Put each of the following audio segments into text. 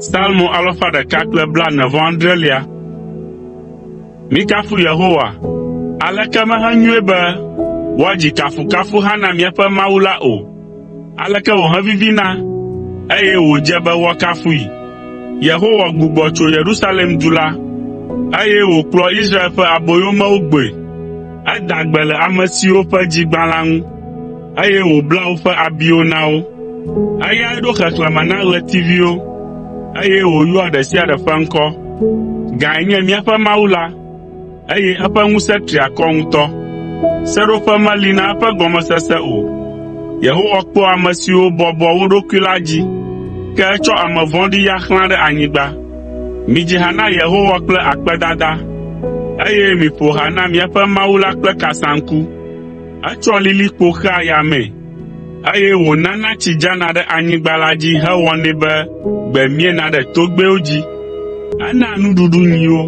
Salmo alafa ɖeka kple blaene-vɔ-adrelia. Mikafu Yehowa. Aleke mehenyoe be woadzi kafukafuha na míaƒe Mawu la o! Aleke wòhevivina, eye wòdze be woakafui! Yehowa gbugbɔ tso Yerusalem du la, eye wòkplɔ Israel ƒe aboyomewo gbɔe. Eda gbe le ame siwo ƒe dzi gbã la ŋu. eye wòbla woƒe abiwo na wo. Eyae ɖo xexlẽme na ɣletiviwo, eye wòyɔa ɖe sia ɖe ƒe ŋkɔ. Gãe nye míaƒe Mawu la, eye eƒe ŋusẽ tri akɔ ŋutɔ. Seɖoƒe meli na eƒe gɔmesese o. Yehowa kpɔa ame siwo bɔbɔa wo ɖokui la dzi, ke etsɔ ame vɔ̃ɖi ya xlãa ɖe anyigba. Midzi ha na Yehowa kple akpedada, eye miƒo ha na míaƒe Mawu la kple kasaŋku. Etsɔ lilikpo xea yamee, eye wònana tsi dzana ɖe anyigba la dzi hewɔnɛ be gbe miena ɖe togbɛwo dzi. Enaa nuɖuɖu nyiwo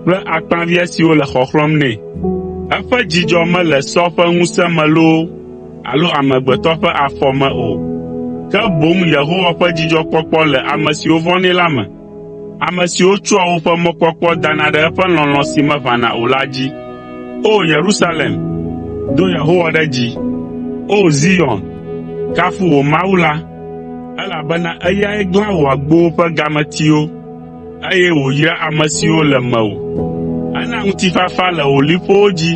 kple akpaviã siwo le xɔxlɔ̃m nɛ. Eƒe dzidzɔ mele sɔ ƒe ŋusẽ me loo alo amegbetɔ ƒe afɔ me o, ke boŋ Yehowa ƒe dzidzɔkpɔkpɔ le ame siwo vɔ̃nɛ la me. Ame siwo tsɔa woƒe mɔkpɔkpɔ dana ɖe eƒe lɔlɔ̃ si meʋãna o la dzi. O Yerusalem, do Yehowa ɖe dzi. O Zion, kafu wò Mawu la, elabena eyae glã wò agbowo ƒe gametiwo, eye wòyra ame siwo le mewò. Ena ŋutifafa le wò liƒowo dzi,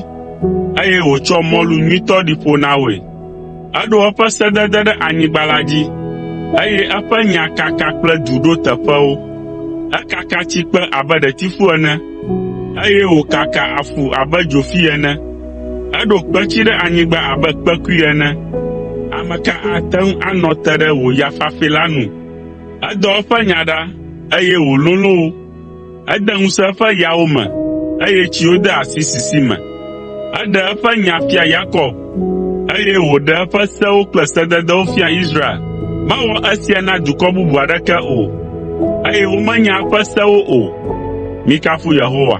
eye wòtsɔ mɔlu nyuitɔ ɖi ƒo na woe. Eɖo eƒe sedede ɖe anyigba la dzi, eye eƒe nya kaka kple du ɖo teƒewo. Ekaka tsikpe abe ɖetifu ene, eye wòkaka afu abe dzofi ene. Eɖo kpetsi ɖe anyigba abe kpekui ene. Ame ka ate ŋu anɔ te ɖe wò ya fafɛ la nu? Edɔ eƒe nya ɖa, eye wòlolõ wo. Ede ŋusẽ eƒe yawo me, eye tsiwo de asi sisi me. Eɖe eƒe nya fia Yakob, eye wòɖe eƒe sewo kple sededewo fia Israel. Mewɔ esia na dukɔ bubu aɖeke o, eye womenya eƒe sewo o. Mikafu Yehowa.